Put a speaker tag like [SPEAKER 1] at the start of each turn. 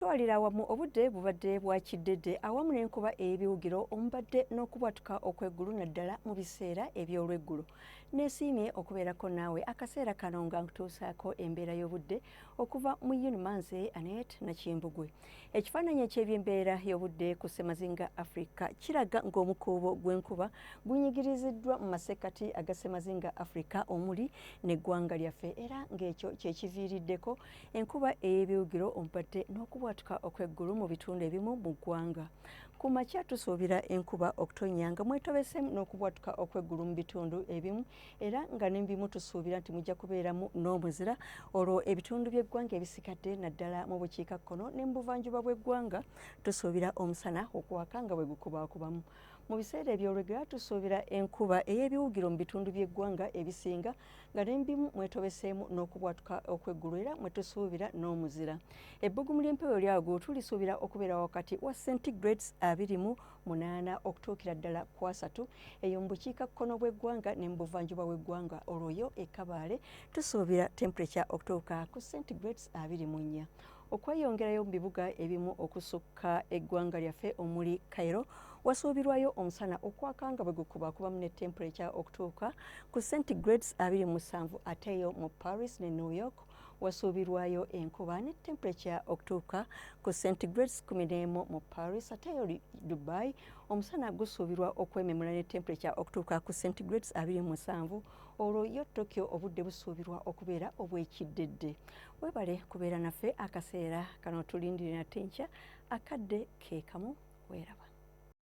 [SPEAKER 1] Twalira awamu obudde bubadde bwa kiddedde awamu n'enkuba ey'ebiwugiro omubadde n'okubwatuka okw'eggulu naddala mu biseera eby'olweggulo. Neesiimye okubeerako naawe akaseera kano nga nkutuusaako embeera y'obudde okuva mu Yunuma nze Anet Nakimbugwe. Ekifaananyi eky'ebyembeera y'obudde ku ssemazinga Afrika kiraga ng'omukuubo gw'enkuba gunyigiriziddwa mu masekkati aga ssemazinga Afrika omuli n'eggwanga lyaffe era ng'ekyo kye kiviiriddeko Enkuba ey'ebiwugiro ompadde n'okubwatuka okw'eggulu mu bitundu ebimu mu ggwanga. Ku makya tusuubira enkuba okutonnya nga mwetobeseemu n'okubwatuka okw'eggulu mu bitundu ebimu era nga ne bimu tusuubira nti mujja kubeeramu n'omuzira olwo ebitundu by'eggwanga ebisikadde naddala mu bukiikakkono ne mu buvanjuba bw'eggwanga tusuubira omusana okuwaka nga bwe gukubaakubamu. Mu biseera eby'olwegera tusuubira enkuba ey'ebiwugiro mu bitundu by'eggwanga ebisinga nga n'embimu mwetobeseemu n'okubwatuka okw'eggulu era mwe tusuubira n'omuzira ebbugumu ly'empewo lyago tulisuubira okubeera wakati wa centigrades abiri mu munaana okutuukira ddala ku asatu eyo mu bukiika kkono bw'eggwanga ne mu buvanjuba bw'eggwanga olwoyo e kabaale tusuubira temperature okutuuka ku centigrades abiri mu nnya okweyongerayo mu bibuga ebimu okusukka eggwanga lyaffe omuli Cairo wasuubirwayo omusana okwaka nga bwe gukubakubamu ne temperature okutuuka ku centigrades abiri mu musanvu ateeyo mu Paris ne New York wasuubirwayo enkuba ne temperature okutuuka ku centigrades kumi n'emu mu Paris ate eyo Dubai omusana gusuubirwa okwememula ne temperature okutuuka ku centigrades abiri musanvu olwo yo tokyo obudde busuubirwa okubeera obw'ekiddedde webale kubeera naffe akaseera kano tulindire nate nkya akadde keekamu weeraba